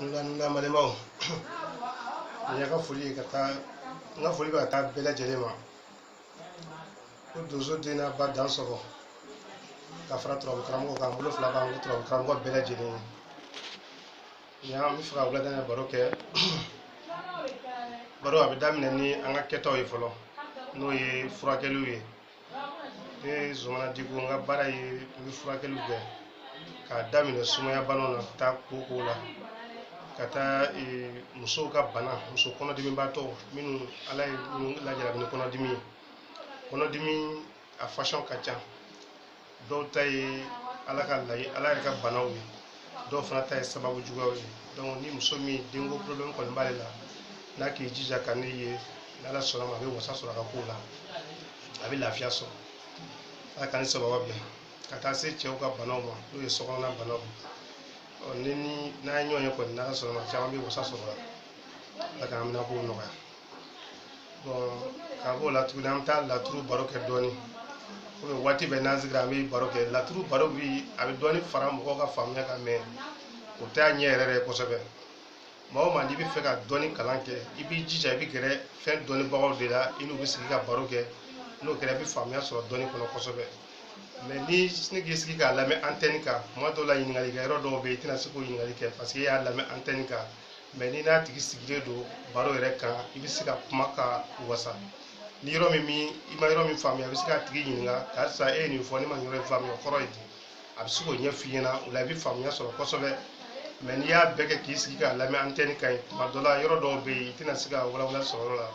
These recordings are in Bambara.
n ka n ka balimaw n y'a ka foli ye ka taa n ka foli bɛ ka taa bɛɛ lajɛlen ma ko donso den n'a ba dansɔgɔ ka fara turabu karamɔgɔ kan bolo fila b'an kɔ turabu karamɔgɔ bɛɛ lajɛlen ye yan an bɛ fɛ ka wulada in baro kɛ baro a bɛ daminɛ ni an ka kɛtaw ye fɔlɔ n'o ye furakɛliw ye ne zumana diko n ka baara ye n bɛ furakɛliw kɛ k'a daminɛ sumaya banaw na ka taa kooko la ka taa e, musow ka bana muso kɔnɔdimibaatɔ minnu ala ye minnu lajarabi ni kɔnɔdimi ye kɔnɔdimi a fasɔn ka ca dɔw ta ye ala ka layi ala yɛrɛ ka banaw ye dɔw fana ta ye sababu juguyaw ye donc ni muso min denko problème kɔni b'ale la n'a k'i jija ka ne ye n'ala sɔnna ma a bɛ wasa sɔrɔ a ka kow la a bɛ lafiya sɔrɔ ala k'a ni sababu bɛn ka taa se cɛw ka banaw ma n'o ye sokɔnɔna banaw ye ɔ ni ni n'an ye ɲɔgɔn ye kɔni n'ala sɔnna ma caman bɛ wasa sɔrɔ a la ala k'an bɛɛ la kow nɔgɔya k'a b'o la tuguni an bɛ taa laturu baro kɛ dɔɔnin komi waati bɛɛ n'an sigira an bɛ baro kɛ laturu baro bi a bɛ dɔɔnin fara mɔgɔw ka faamuya kan mɛ o t'a ɲɛ yɛrɛ yɛrɛ kosɛbɛ maa o maa n'i bɛ fɛ ka dɔnni kalan kɛ i b'i jija i bɛ gɛrɛ fɛn dɔnnibagaw de la i n'u bɛ sigi ka baro kɛ n'o kɛra i bɛ faamuya sɔrɔ dɔnni kɔnɔ kosɛbɛ mɛ ni e k'i sigi k'a lamɛn antenne kan tuma dɔw la ɲininkali kɛ yɔrɔ dɔw bɛ yen i tɛna se k'o ɲininkali kɛ parce que e y'a lamɛn antenne kan mɛ n'i n'a tigi sigilen don baro yɛrɛ kan i bɛ se ka kuma ka wasa ni yɔrɔ min min i ma yɔrɔ min faamuya i bɛ se k'a tigi ɲininka karisa e ye nin fɔ ne ma yɔrɔ in faamuya o kɔrɔ ye di a bɛ se k'o ɲɛ f'i ɲɛna o la i bɛ faamuya sɔrɔ kosɛbɛ mɛ n'i y'a bɛɛ kɛ k'i sigi k'a lamɛn antenne kan tuma dɔ la yɔrɔ dɔw bɛ yen i tɛna se ka walawala sɔrɔ yɔrɔ la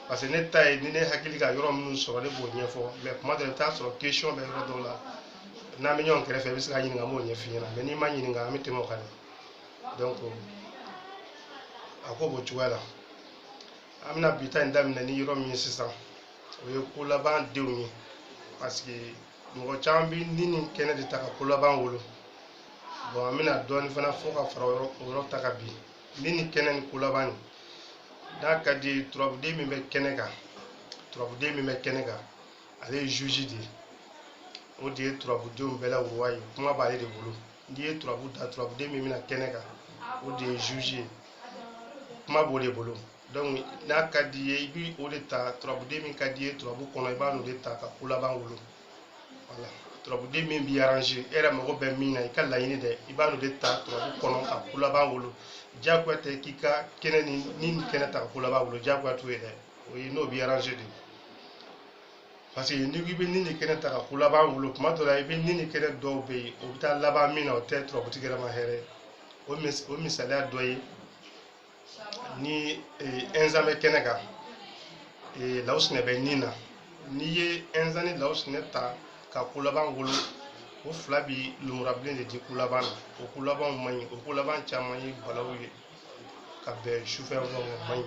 parce que ne ta ye ni ne hakili ka yɔrɔ minnu sɔrɔ ne b'o ɲɛfɔ mɛ tuma dɔ la i bɛ t'a sɔrɔ question bɛ yɔrɔ dɔw la n'an bɛ ɲɔgɔn kɛrɛfɛ i bɛ se k'a ɲininka an b'o ɲɛf'i ɲɛna mɛ n'i m'a ɲininka an bɛ tɛmɛ o kan dɛ donc a ko b'o cogoya la an bɛna bi ta in daminɛ ni yɔrɔ min ye sisan o ye ko laban denw ye parce que mɔgɔ caman bɛ ni ni kɛnɛ de ta ka ko laban wolo bon an bɛna dɔɔnin fana fɔ ka fara o yɔrɔ o yɔrɔ ta kan bi ni ni kɛnɛ ni ko laban nin n'a ka d'i ye turabuden min bɛ kɛnɛ kan turabuden min bɛ kɛnɛ kan ale ye juge de ye o de ye turabudenw bɛɛ la roi ye kuma b'ale de bolo n'i ye turabu da turabuden min bɛ na kɛnɛ kan o de ye juge ye kuma b'o de bolo donc n'a ka d'i ye i bi o de ta turabuden min ka d'i ye turabu kɔnɔ i b'a n'o de ta ka ko laban wolo voilà turabuden min b'i arranger e yɛrɛ mago bɛ min na i ka laɲini dɛ i b'a n'o de ta turabu kɔnɔ ka ko laban wolo diyagoya tɛ k'i ka kɛnɛ ni ni kɛnɛ ta ka ko laban wolo diyagoya t'o ye dɛ o ye n'o b'i arranger de parce que n'i ko i bɛ ni ni kɛnɛ ta ka ko laban wolo tuma dɔ la i bɛ ni ni kɛnɛ dɔw bɛ yen o bɛ taa laban min na o tɛ turabutigi yɛrɛ ma hɛrɛ o mis o misaliya dɔ ye ni ɛnzan bɛ kɛnɛ kan lawusinɛ bɛ ni na n'i ye ɛnzan ni lawusinɛ ta ka ko laban wolo o fila bi lumurabilen de di ko laban na o ko labanw man ɲi o ko laban caman ye balaw ye ka bɛn sufɛ a man ɲi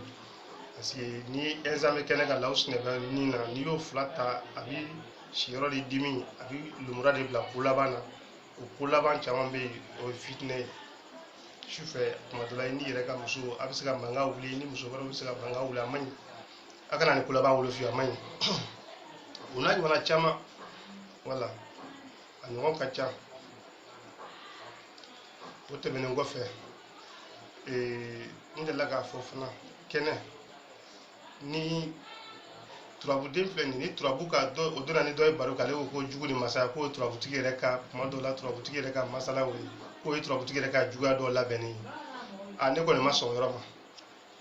parce que ni ɛnzan bɛ kɛnɛ kan lawusinɛ bɛ ni na n'i y'o fila ta a bi siyɔrɔ de dimi a bi lumura de bila ko laban na o ko laban caman bɛ yen o ye fitinɛ ye sufɛ tuma dɔ la i n'i yɛrɛ ka muso a bɛ se ka mankan wuli i ni muso wɛrɛw bɛ se ka mankan wuli a man ɲi a kana nin ko laban wolo fiyewu a man ɲi o n'a ɲɔgɔnna caman wala a ɲɔgɔn ka ca o tɛmɛnen kɔfɛ ee, n delila k'a fɔ fana kɛnɛ ni turabuden filɛ nin ye, ni turabu ka dɔ o donna ni dɔ ye baro kan ale ko ko jugu ni masaya k'o ye turabutigi yɛrɛ ka kuma dɔw la turabutigi yɛrɛ ka masala o ye k'o ye turabutigi yɛrɛ ka juguya dɔw labɛnnen ye a ne kɔni ma sɔn o yɔrɔ ma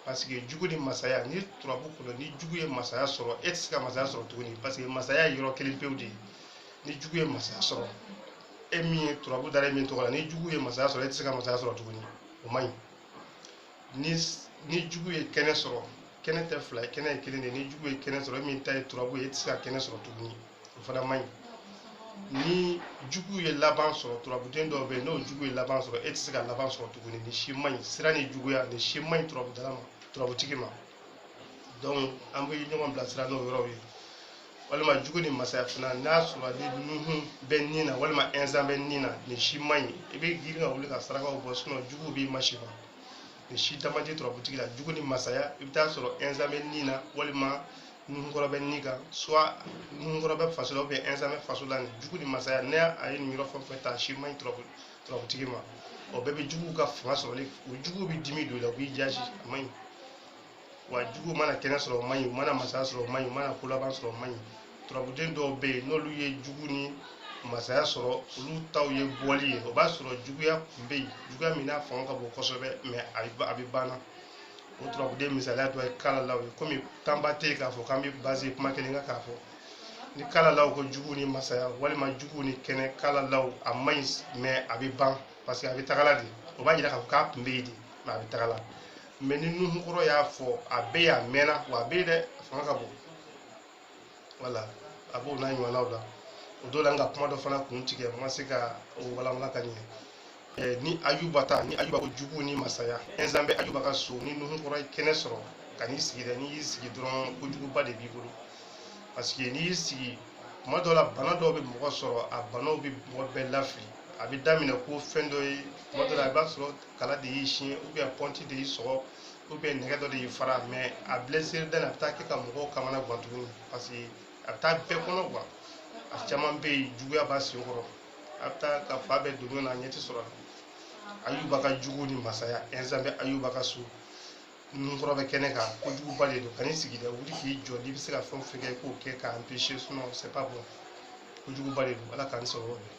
parce que jugu ni masaya ni turabu kɔnɔ ni jugu ye masaya sɔrɔ e tɛ se ka masaya sɔrɔ tuguni parce que masaya ye yɔrɔ kelen pewu de ye ni jugu ye masaya sɔrɔ e min ye turabu dara e min tɔgɔ la ni jugu ye masaya sɔrɔ e tɛ se ka masaya sɔrɔ tuguni o man ɲi ni ni jugu ye kɛnɛ sɔrɔ kɛnɛ tɛ fila ye kɛnɛ ye kelen de ye ni jugu ye kɛnɛ sɔrɔ e min ta ye turabu ye e tɛ se ka kɛnɛ sɔrɔ tuguni o fana man ɲi ni jugu ye laban sɔrɔ turabuden dɔw bɛ yen n'o jugu ye laban sɔrɔ e tɛ se ka laban sɔrɔ tuguni nin si man ɲi sira ni juguya nin si man ɲi turabudala ma turabutigi ma donc an bɛ ɲɔgɔn bilasira n'o yɔrɔw ye walima jugu ni masaya fana n'a sɔrɔ ni nuhun bɛ ni na walima ɛnzan bɛ ni na nin si man ɲi i bɛ girin ka wuli ka sarakaw bɔ sinon jugu b'i ma si ma nin si dama tɛ turabutigi la jugu ni masaya i bɛ taa sɔrɔ ɛnzan bɛ ni na walima nuhunkɔrɔ bɛ ni kan soit nuhunkɔrɔ bɛ faso la ou bien ɛnzan bɛ faso la nin jugu ni masaya ni a ye nin yɔrɔ fɛn o fɛn ta si man ɲi turabu turabutigi ma o bɛɛ bɛ juguw ka fanga sɔrɔli o juguw bɛ dimi don i la u b'i jasi a man ɲi wa juguw mana kɛnɛ sɔrɔ o man ɲi u mana masaya sɔrɔ o man ɲi u mana ko laban sɔrɔ o man ɲi turabuden dɔw bɛ yen n'olu ye jugu ni masaya sɔrɔ olu taw ye bɔli ye o b'a sɔrɔ juguya kun bɛ yen juguya min n'a fanga ka bon kosɛbɛ mɛ a bɛ a bɛ banna o turabuden misaliya dɔ ye kalalaw ye komi tanba tɛ yen k'a fɔ k'an bɛ baze kuma kelen kan k'a fɔ ni kalalaw ko jugu ni masaya walima jugu ni kɛnɛ kalalaw a man ɲi mɛ a bɛ ban parce que a bɛ tagala de o b'a jira k'a fɔ k'a tun bɛ yen de mɛ a bɛ tagala mɛ ni nuhunkɔrɔ y'a fɔ a bɛ yen a mɛnna wa a bɛ yen dɛ a fanga ka bon wala a b'o n'a ɲɔgɔnnaw la o don la n ka kuma dɔ fana kun tigɛ n ma se ka o walawala ka ɲɛ Eh, ni ayuba ta ni ayuba ko jugu ni masaya ɛnzan bɛ ayuba ka so ni nuhu kɔrɔ ye kɛnɛ sɔrɔ kan'i sigi dɛ n'i y'i sigi dɔrɔn kojuguba de b'i bolo parce que n'i y'i sigi tuma dɔw la bana dɔw bɛ mɔgɔ sɔrɔ a banaw bɛ mɔgɔ bɛɛ lafili a bɛ daminɛ ko fɛn dɔ ye tuma dɔw la i b'a sɔrɔ kala de y'i siɲɛ ou bien pɔnti de y'i sɔgɔ ou bien nɛgɛ dɔ de y'i fara mais a blessure dɛn a bɛ taa kɛ ka mɔgɔw kamana gan tuguni parce que a bɛ taa bɛɛ kɔnɔ quoi a caman bɛ yen juguya b'a sen kɔrɔ a bɛ taa ka fan bɛɛ don na a ɲɛ tɛ sɔrɔ a la ayuba ka jugu ni masaya ɛnsan bɛ ayuba ka so nunkɔrɔ bɛ kɛnɛ kan kojuguba de don kan'i sigi dɛ wuli k'i jɔ n'i bɛ se ka fɛn o fɛn kɛ i k'o kɛ k'a empêcher sinon c'est pas bon kojuguba de don ala k'an sɔrɔ o bɛɛ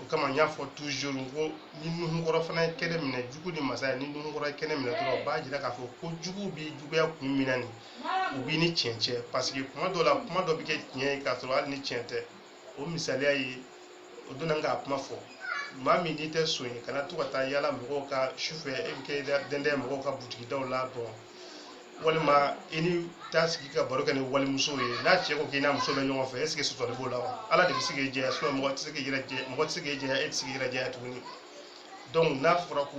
o kama n y'a fɔ toujours n ko ni nunkɔrɔ fana ye kɛnɛ minɛ jugu ni masaya ni nunkɔrɔ ye kɛnɛ minɛ dɔrɔn o b'a jira k'a fɔ ko jugu b'i juguya kun min na nin u b'i ni tiɲɛ cɛ parce que tuma dɔw la kuma dɔ bɛ kɛ tiɲɛ ye k'a sɔrɔ hali ni tiɲɛ tɛ o misaliya ye o donna n k'a kuma fɔ maa min n'i tɛ son ye kana to ka taa yala mɔgɔw ka sufɛ e bɛ k'i dɛndɛn mɔgɔw ka butigidaw la bon walima i ni taa sigi ka baro kɛ ni walimuso ye n'a cɛ ko k'i n'a muso bɛ ɲɔgɔn fɛ est-ce que sɔsɔli b'o la wa ala de bɛ se k'i jɛya sinon mɔgɔ tɛ se k'i yɛrɛ jɛya mɔgɔ tɛ se k'i jɛya e tɛ se k'i yɛrɛ jɛya tuguni donc n'a fɔra ko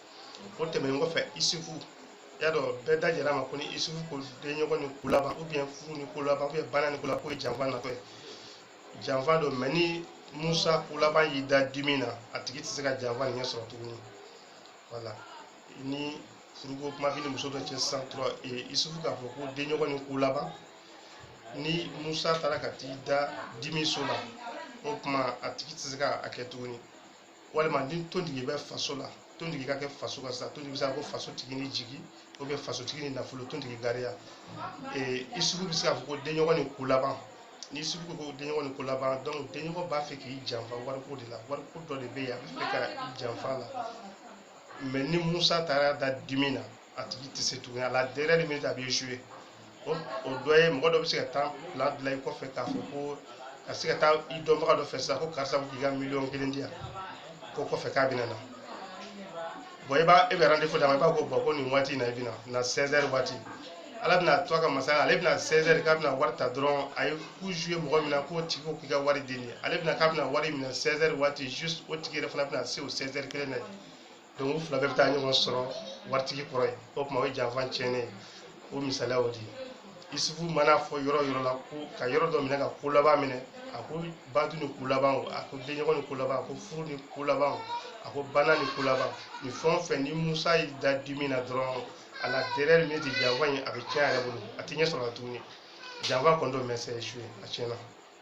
o tɛmɛnen kɔfɛ isufu y'a dɔn bɛɛ da jɛra a ma ko ni isufu ko denɲɔgɔn ni ko laban ou bien furu ni ko laban ou bien bana ni ko laban k'o ye janfa natɔ ye janfa don mais ni musa ko laban y'i da dimi na a tigi tɛ se ka janfa nin ɲɛ sɔrɔ tuguni wala ni furuko kuma b'i ni muso dɔ cɛ sisan dɔrɔn isufu k'a fɔ ko denɲɔgɔn ni ko laban ni musa taara ka t'i da dimi so la o tuma a tigi tɛ se ka a kɛ tuguni walima ni tontigi bɛ faso la tontigi ka kɛ faso kan sisan tontigi bɛ se ka ko faso tigi ni jigi ou bien faso tigi ni nafolo tontigi gariya ee isufu bɛ se k'a fɔ ko denɲɔgɔn ni ko laban ni isufu ko ko denɲɔgɔn ni ko laban donc denɲɔgɔn b'a fɛ k'i janfa wariko de la wariko dɔ de bɛ yen a b'a fɛ ka i janfa a la mais ni musa taara da dimi na a tigi tɛ se tuguni à la dernière minute a bɛ échouer o o dɔ ye mɔgɔ dɔ bɛ se ka taa plan dilan i kɔfɛ k'a fɔ ko ka se ka taa i dɔnbaga dɔ fɛ sisan ko karisa ko k'i ka miliyɔn kelen di yan ko kɔfɛ k'a bɛna na bon i b'a e bɛ rendez-vous d'a ma i b'a ko bon ko nin waati in na i bɛna na 16 heures waati ala bɛna to a ka masaya la ale bɛna 16 heures k'a bɛna wari ta dɔrɔn a ye coup jouer mɔgɔ min na k'o tigi ko k'i ka wari di nin ye ale bɛna k'a bɛna wari minɛ 16 heures waati juste o tigi yɛrɛ fana bɛna se o 16 heures kelen na yen donc u fila bɛɛ bɛ taa ɲɔgɔn sɔrɔ waritigi kɔrɔ yen o tuma o ye janfa tiɲɛnen ye o misaliya o de ye isufu mana fɔ yɔrɔ yɔrɔ la ko ka yɔrɔ dɔ minɛ ka ko laban minɛ a ko badu ni ko laban o a ko denɲɔgɔn ni ko laban a ko furu ni ko laban o a ko bana ni ko laban nin fɛn o fɛn ni musa y'i da dimi na dɔrɔn à la dernière minute janfa in a bɛ tiɲɛ a yɛrɛ bolo a tɛ ɲɛ sɔrɔ a la tuguni janfa kɔni don mais c'est échoué a tiɲɛna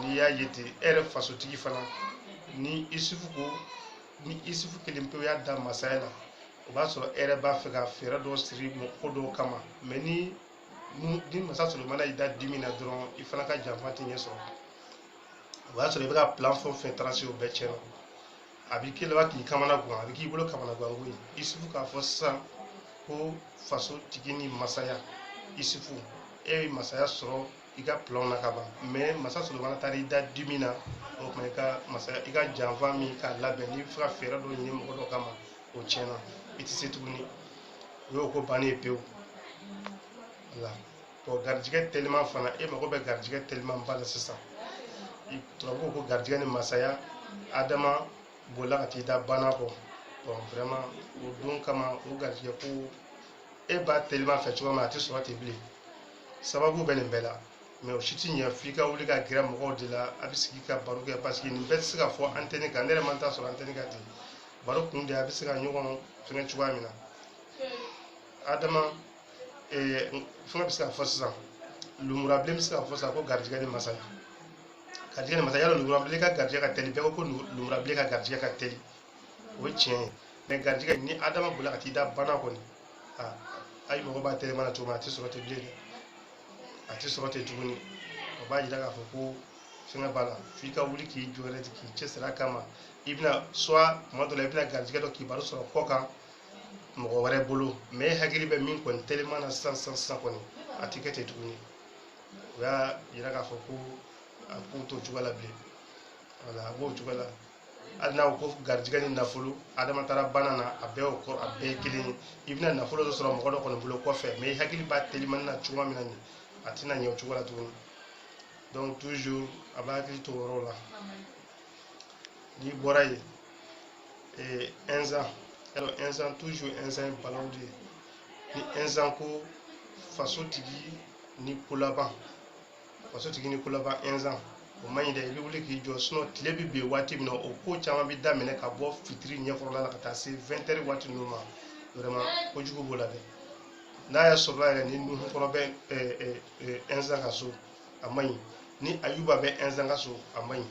n'i y'a ye ten e yɛrɛ fasotigi fana ni isufu ko ni isufu kelen pewu y'a da masaya la o b'a sɔrɔ e yɛrɛ b'a fɛ ka fɛɛrɛ dɔ siri ko dɔw kama mais ni ni masa solomana y'i da dimi na dɔrɔn i fana ka janfa tɛ ɲɛ sɔrɔ o y'a sɔrɔ i bɛ ka plan fɛn o fɛn tracé o bɛɛ tiɲɛna a b'i k'i laban k'i kamanagwan a bɛ k'i bolo kamanagwanko ye isufu k'a fɔ sisan ko faso tigi ni masaya isufu e ye masaya sɔrɔ i ka plan na ka ban mais masa solomana taara i da dimi na o tuma i ka masa i ka janfa min k'a labɛn n'i bɛ fɛ ka fɛɛrɛ dɔ ɲini mɔgɔ dɔ kama o tiɲɛna i tɛ se tuguni o y'o ko bannen ye pewu wala bon garijigɛ teliman fana e mago bɛ garijigɛ teliman ba la sisan tubabuw ko garijigɛ ni masaya adama bolila ka t'i da bana kɔ bon vraiment o don kama o garijigɛ ko e b'a teliman fɛ cogoya min na a tɛ sɔrɔ ten bilen sababu bɛ nin bɛɛ la mais o si ti ɲɛ f'i ka wuli ka gɛrɛ mɔgɔw de la a bɛ sigi ka baro kɛ parce que nin bɛɛ tɛ se ka fɔ antenne kan ne yɛrɛ ma temps sɔrɔ antenne kan ten baro kun de a bɛ se ka ɲɔgɔn fɛngɛ cogoya min na adama eh, fɛngɛ bɛ se ka fɔ sisan lumurabilen bɛ se ka fɔ sisan ko garijɛgɛ ni masaya garijɛgɛ ni masaya yala lumurabilen ka garijɛgɛ ka teli bɛɛ ko ko lu- lumurabilen ka garijɛgɛ ka teli o ye tiɲɛ ye mais garijɛgɛ ni adama bolila ka t'i da bana kɔni Ah, ayi mɔgɔ b'a teliman na cogo min a tɛ sɔrɔ ten bilen dɛ a tɛ sɔrɔ ten tuguni o b'a jira k'a fɔ ko fɛngɛ b'a la f'i ka wuli k'i jɔ yɛrɛ de k'i cɛsiri a kama i bɛna soit tuma dɔ la i bɛna garijɛgɛ dɔ kibaru sɔrɔ kɔ kan mɔgɔ wɛrɛ bolo mais e hakili bɛ min kɔni teliman na sisan sisan sisan kɔni a tɛ kɛ ten tuguni o y'a jira k'a fɔ ko a ko t'o cogoya la bilen wala a b'o cogoya la hali n'a ko garijɛgɛ ni nafolo adama taara bana na a bɛɛ o kɔrɔ a bɛɛ ye kelen ye i bɛna nafolo dɔ sɔrɔ mɔgɔ dɔ kɔni bolo kɔfɛ mais i hakili b'a telimani na cogoya min na nin a tɛna ɲɛ o cogo la tuguni donc toujours a b'a hakili to o yɔrɔ la n'i bɔra yen ee ɛnzan alors ɛnzan toujours ɛnzan ye balawu de ye ni ɛnzan ko faso tigi ni kolaban faso tigi ni kolaban ɛnzan o man ɲi dɛ i bɛ wuli k'i jɔ sinon tile bɛ bin waati min na o ko caman bɛ daminɛ ka bɔ fitiri ɲɛkɔrɔla la ka taa se vingt heures waati ninnu ma vraiment kojugu b'o la dɛ n'a y'a sɔrɔla yɛrɛ ni nuhukɔrɔ bɛ ɛnzan ka so a man ɲi ni ayuba bɛ ɛnzan ka so a man ɲi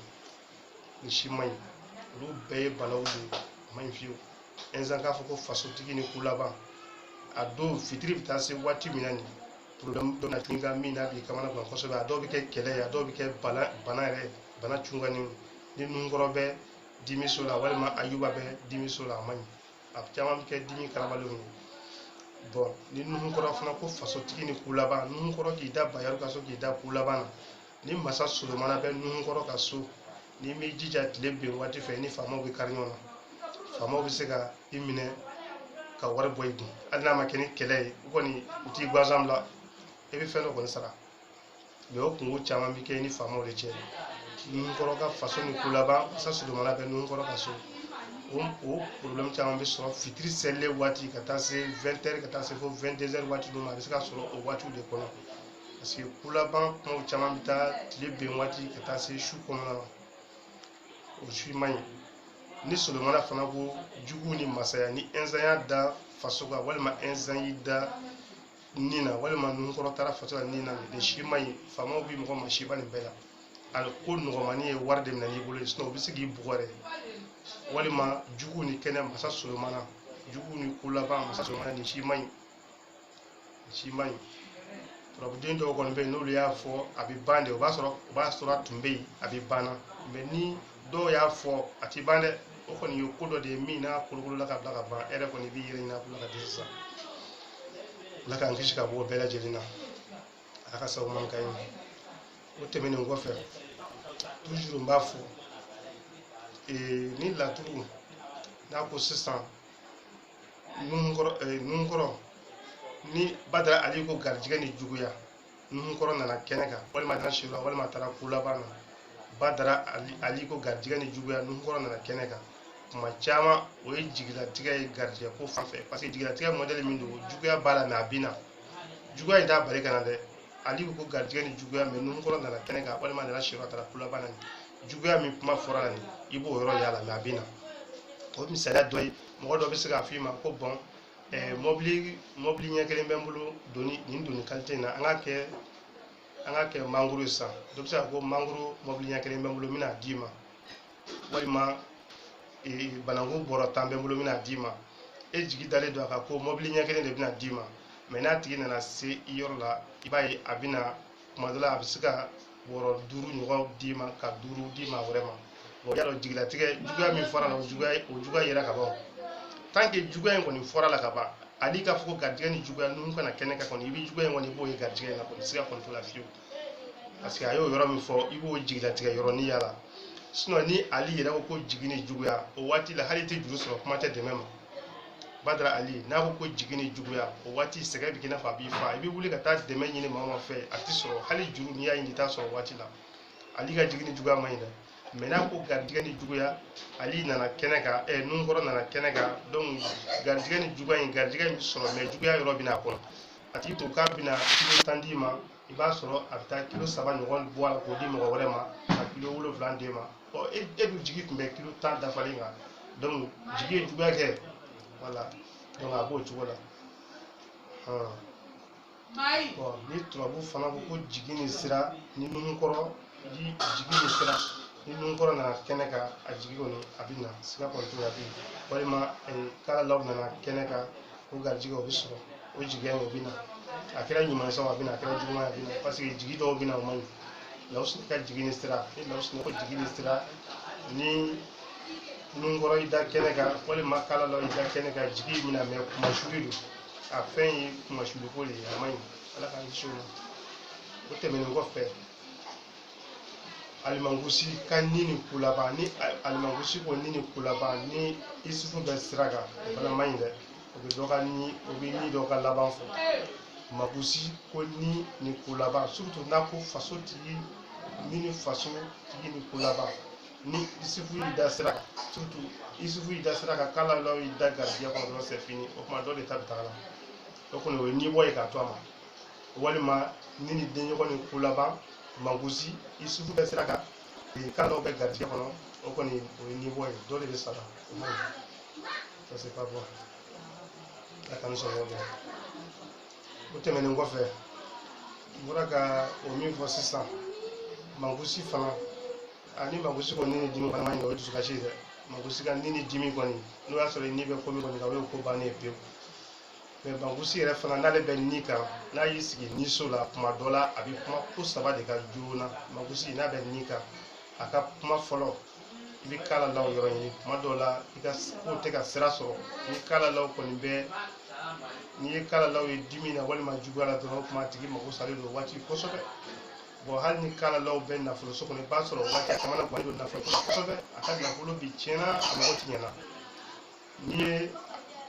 nin si man ɲi olu bɛɛ ye balawu de ye a man ɲi fiyewu ɛnzan k'a fɔ ko fasotigi ni kolaban a don fitiri bɛ taa se waati min na nin problème dɔ na k'i ka min n'a b'i kamana gan kosɛbɛ a dɔw bɛ kɛ kɛlɛ ye a dɔw bɛ kɛ bana bana yɛrɛ bana cunkanni ni nuhunkɔrɔ bɛ dimi so la walima ayuba bɛ dimi so la a man ɲi a caman bɛ kɛ dimi karabalenw ye bon ni nuhunkɔrɔ fana ko fasotigi ni kulaban nuhunkɔrɔ k'i da bayaru ka so k'i da kulaban na ni masa solomana bɛ nuhunkɔrɔ ka so n'i m'i jija tile bin waati fɛ i ni faamaw bɛ kari ɲɔgɔn na faamaw bɛ se ka i minɛ ka wari bɔ i kun hali n'a ma kɛ ni kɛlɛ ye u kɔni u t'i gansan bila i bɛ fɛn dɔ kɔni sara mais o kungo caman bɛ kɛ i ni faamaw de cɛ nuhunkɔrɔ ka faso ni kulaban masa solomana bɛ nuhunkɔrɔ ka so o o problème caman bɛ sɔrɔ fitiri selilen waati ka taa se 20 heures ka taa se fo 22 heures waati ninnu ma a bɛ se ka sɔrɔ o waatiw de kɔnɔ parce que kulaban kumaw caman bɛ taa tile bin waati ka taa se su kɔnɔna ma o si man ɲi ni solomana fana ko jugu ni masaya ni inzan y'a da faso kan walima inzan y'i da nin na walima nuhunkɔrɔ taara faso la nin na nin si man ɲi faamaw bɛ mɔgɔ masiba nin bɛɛ la ali ko nɔgɔmani ye wari de minɛ n'i bolo ye sinon u bɛ se k'i bugɔ yɛrɛ walima jugu ni kɛnɛ masa solomana jugu ni kulaban masa solomana nin si man ɲi si man ɲi turabuden dɔw kɔni bɛ yen n'olu y'a fɔ a bɛ ban de o b'a sɔrɔ o b'a sɔrɔ a tun bɛ yen a bɛ banna mais ni dɔw y'a fɔ a tɛ ban dɛ o kɔni ye ko dɔ de ye min n'a kolokolola ka bila ka ban e yɛrɛ kɔni i b'i yɛrɛ ɲin'a bila ka di sisan ala k'an kisi ka bɔ o bɛɛ lajɛlen na ala ka sababu man ka ɲi o tɛmɛnen kɔfɛ toujours n b'a fɔ ee ni laturu n'a ko sisan nuhunkɔrɔ eh, nuhunkɔrɔ ni badara ali ko garijɛgɛ ni juguya nuhunkɔrɔ nana kɛnɛ kan walima a taara si la walima a taara kulaban na badara ali ali ko garijɛgɛ ni juguya nuhunkɔrɔ nana kɛnɛ kan kuma caman o ye jigilatigɛ ye garijɛgɛ ko fan fɛ parce que jigilatigɛ modèle min don juguya b'a la mais a bɛ na juguya in t'a bali ka na dɛ ali ko garijɛgɛ ni juguya mais nuhunkɔrɔ nana kɛnɛ kan walima nana siyɔrɔ taara kulaban na nin juguya min kuma fɔra la nin i b'o yɔrɔ y'a la mais a bɛ na o misaliya dɔ ye mɔgɔ dɔ bɛ se k'a f'i ma ko bon eh, mɔbili mɔbili ɲɛ kelen bɛ n bolo doni nin doni qualité in na an k'a kɛ an k'a kɛ mangoro ye sisan dɔ bɛ se k'a fɔ ko mangoro mɔbili ɲɛ kelen bɛ n bolo n bɛna d'i ma walima eh, bananku bɔrɔ tan bɛ n bolo n bɛna d'i ma e jigi dalen don a kan ko mɔbili ɲɛ kelen de bɛna d'i ma mais n'a tigi nana se i yɔrɔ la i b'a ye a bɛna tuma dɔ la a bɛ se ka bɔrɔ duuru ɲɔgɔn d'i ma ka duuru di maa wɛrɛ ma bon y'a dɔn jigilatigɛ juguya min fɔra la o juguya o juguya yera ka ban tant que juguya in kɔni fɔra la ka ban ali k'a fɔ ko garijɛgɛ ni juguya ni nuhun ka na kɛnɛ kan kɔni i bɛ juguya in kɔni i b'o ye garijɛgɛ in na kɔni siga kɔni t'o la fiyewu parce que a y'o yɔrɔ min fɔ i b'o jigilatigɛ yɔrɔnin y'a la ni ali yɛrɛ ko ko jigi ni juguya o waati la hali i tɛ juru sɔrɔ kuma tɛ dɛmɛ ma badara ali n'a ko ko jigi ni juguya o waati sɛgɛn bɛ k'i n'a fɔ a b'i fa i bɛ wuli ka taa dɛmɛ ɲini maaw fɛ a tɛ sɔrɔ hali juru n'i y'a ɲini i t'a sɔrɔ waati la ali ka jigi ni juguya man ɲi dɛ mais n'a ko garijɛgɛ ni juguya ali nana kɛnɛ kan ɛ nunkɔrɔ nana kɛnɛ kan garijɛgɛ ni juguya in garijɛgɛ in bɛ sɔrɔ mais juguya yɔrɔ bɛ n'a kɔnɔ a tigi tun k'a bɛna kilo tan d'i ma i b'a sɔrɔ a bɛ taa kilo saba ɲɔgɔn bɔ a la k'o di mɔgɔ wɛrɛ ma ka kilo wolonwula d'e ma ɔ e e dun jigi tun bɛ kilo tan dafalen kan donc jigi ye juguya kɛ voilà donc a b'o cogo la hɔn bon ni turabu fana ko ko jigi ni sira ni nunkɔrɔ ni jigi ni sira ni nunkɔrɔ nana kɛnɛ kan a jigi kɔni a bɛ na siga kɔni t'o la bilen walima eh, kalalaw nana kɛnɛ kan ko garijɛgɛ o bɛ sɔrɔ o jigiya o bɛ na a kɛra ɲuman sɔn a bɛ na a kɛra juguman a bɛ na parce que jigi dɔw bɛ na o man ɲi lawusu ka jigi ni sira ni lawusu ko jigi ni sira ni nunkɔrɔ i da kɛnɛ kan walima kalalaw i da kɛnɛ kan jigi bɛ na mais kunmasuli don a fɛn ye kunmasuli ko de ye a man ɲi ala k'an kisi o ma o tɛmɛnen kɔfɛ alimangusi ka ni ni ko laban ni alimangusi ko ni ni ko laban ni isufu bɛ sira kan o fana man ɲi dɛ o bɛ dɔ ka ni o bɛ ni dɔ ka laban fɔ mangusi ko ni ni ko laban surtout n'a ko faso tigi ni ni faso tigi ni ko laban ni isufu y'i da sira kan surtout isufu y'i da sira kan kalalaw y'i da garijɛgɛ kɔnɔ dɔrɔn c'est fini o tuma dɔ de ta bɛ taga la o kɔni o ye ni bɔ ye k'a to a ma walima ni ni denɲɔgɔn ni ko laban mangusi isufu bɛ sira kan kalalaw bɛ garijɛgɛ kɔnɔ o kɔni o ye ni bɔ ye dɔ de bɛ sara o man ɲi ça c'est pas bon a ka nisɔngɔ bɔ o tɛmɛnen kɔfɛ n bɔra ka o min fɔ sisan mangusi fana ani mangusi ko ni ni dimi kɔni man ɲi o ye dusukasi ye dɛ mangusi ka ni ni dimi kɔni n'o y'a sɔrɔ i ni bɛ ko min kɔni kan o ye ko bannen ye pewu mais mangusi yɛrɛ fana n'ale bɛ ni kan n'a y'i sigi ni so la tuma dɔ la a bɛ kuma ko saba de kan joona mangusi n'a bɛ ni kan a ka kuma fɔlɔ i bɛ kalalaw yɔrɔ ɲini tuma dɔw la i ka ko tɛ ka sira sɔrɔ ni kalalaw kɔni bɛ n'i ye kalalaw ye dimi na walima juguya la dɔrɔn o tuma a tigi mago salen don waati kosɛbɛ bon hali ni kalalaw bɛ nafolo so kɔnɔ i b'a sɔrɔ waati a caman na guwali don nafolo kosɛbɛ a ka nafolo bɛɛ tiɲɛna a mago tiɲɛna n'i ye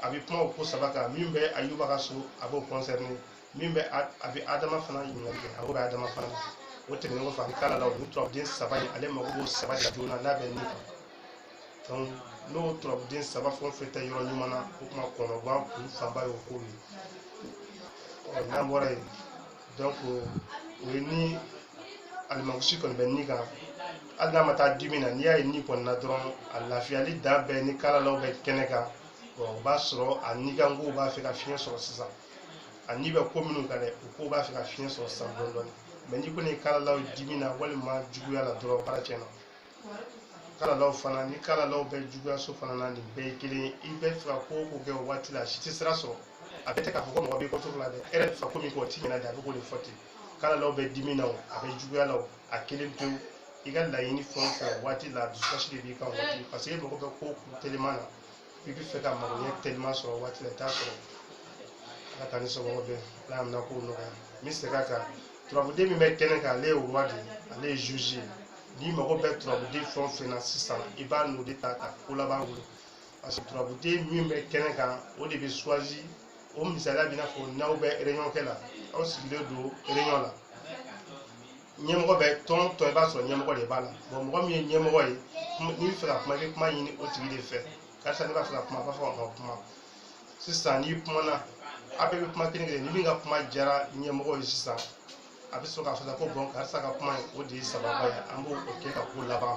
a bɛ kuma o ko saba kan min bɛ ayuba ka so a b'o concerné min bɛ a a bɛ adama fana ɲininkali kɛ a b'o bɛ adama fana na o tɛmɛnen kɔfɛ ani kalalaw ni turabuden saba in ale mago b'o saba de la joona n'a bɛ ni kan donc n'o turabuden saba fɛn o fɛn tɛ yɔrɔ ɲuman na o tuma kɔnɔguwan kun fanba y'o ko ye ɔ n'an bɔra yen donc o ye ni alimankusi kɔni bɛ ni kan hali n'a ma taa dimi na n'i y'a ye ni kɔni na dɔrɔn a lafiyalen don mais ni kalalaw bɛ kɛnɛ kan o b'a sɔrɔ a nikankow b'a fɛ ka fiɲɛ sɔrɔ sisan a ni bɛ ko minnu kan dɛ o ko b'a fɛ ka fiɲɛ sɔrɔ sisan dɔɔni dɔɔni mais n'i kɔni ye kalalaw dimi na walima juguya la dɔrɔn baara tiɲɛna kalalaw fana ni kalalaw bɛ juguyaso fana na nin bɛɛ ye kelen ye i bɛ fɛ ka ko o ko kɛ o waati la a si tɛ sira sɔrɔ a bɛ tɛ k'a fɔ ko mɔgɔ b'i contre la dɛ e yɛrɛ bɛ fɛ ko min kɛ o tɛ ɲɛna de a bɛ k'o de fɔ ten kalalaw bɛ dimi na o a bɛ juguya la o a kelen pewu i ka laɲini fɛn o fɛn o waati la dusukasi de b'i kan waati parce que e mago bɛ ko kun teliman na i bɛ fɛ ka magoɲɛ teliman sɔrɔ o waati la i t'a sɔrɔ ala ka ni sɔgɔma bɛn ala y'an na kow nɔgɔya n bɛ segin a kan turabuden min bɛ kɛnɛ kan ale ye roi de ye ale ye juge ye n'i mago bɛ turabuden fɛn o fɛn na sisan i b'a n'o de ta ka ko laban wolo parce que turabuden min bɛ kɛnɛ kan o de bɛ choisi o misaliya b'i n'a fɔ n'aw bɛ réunion kɛ la aw sigilen don réunion la ɲɛmɔgɔ bɛ tɔn tɔn i b'a sɔrɔ ɲɛmɔgɔ de b'a la bon mɔgɔ min ye ɲɛmɔgɔ ye n'i bɛ fɛ ka kuma i bɛ kuma ɲini o tigi de fɛ karisa ne b'a fɛ ka kuma a b'a fɔ a ka kuma sisan n'i kumana a bɛɛ bɛ kuma kelen kelen ni min ka kuma diyara ɲɛmɔgɔ ye sisan a bɛ sɔrɔ k'a fɔ ko bon karisa ka kuma o de ye sababa ye an b'o kɛ ka ko laban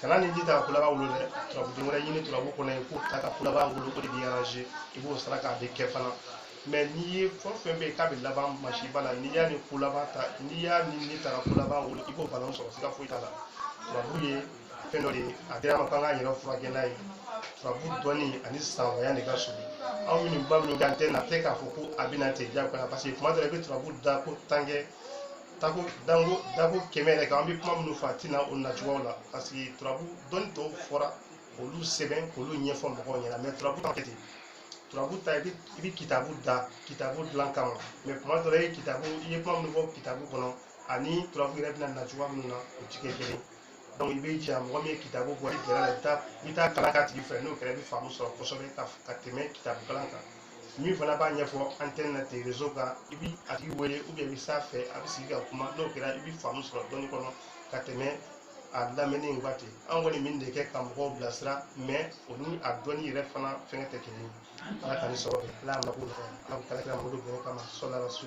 kana ni ji ta ko laban wolo dɛ turabuden wɛrɛ ɲini turabu kɔnɔ yen k'o ta ka ko laban wolo o de b'i arrange i b'o saraka bɛɛ kɛ fana mais n'i ye fɛn fɛn bɛ yen k'a bɛ laban masiba la n'i y'a ni ko laban ta n'i y'a ni ni ta ka ko laban wolo i b'o bana sɔrɔ siga foyi t'a la turabu ye fɛn dɔ de ye a dir'an ma k'an k'an yɛrɛ furakɛ n'a ye turabu dɔnni ani sanwaya de ka surun anw minnu bɛ minnu kɛ antenne na tɛ k'a fɔ ko a bɛ na ten diyagoya parce que tuma dɔ la i bɛ turabu dako tan kɛ dako dako dako kɛmɛ yɛrɛ kɛ an bɛ kuma minnu fɔ a tɛ na o nacogoyaw la parce que turabu dɔnni tɔw fɔra k'olu sɛbɛn k'olu ɲɛfɔ mɔgɔw ɲɛna mais turabu ta ma kɛ ten turabu ta i bɛ i bɛ kitabu da kitabu dilan kama mais tuma dɔ la i ye kitabu i ye kuma minnu fɔ kitabu kɔnɔ ani turabu yɛrɛ bɛna na cogoya minnu na o ti kɛ kelen donc i bɛ jija mɔgɔ min ye kitabu bɔ i gɛrɛ la i bɛ taa i bɛ taa kalan k'a tigi fɛ n'o kɛra i bɛ faamu sɔrɔ kosɛbɛ ka ka tɛmɛ kitabu kalan kan min fana b'a ɲɛfɔ antenne na ten réseau kan i bi a tigi wele ou bien i bɛ s'a fɛ a bɛ sigi ka kuma n'o kɛra i bɛ faamu sɔrɔ dɔnni kɔnɔ ka tɛmɛ a lamɛnni in kan ten an kɔni min de kɛ ka mɔgɔw bilasira mais o ni a dɔnni yɛrɛ fana fɛngɛ tɛ kelen ye ala ka ni sɔrɔ kɛ ala mako la ala ka kira mako bɛn kama sɔla la su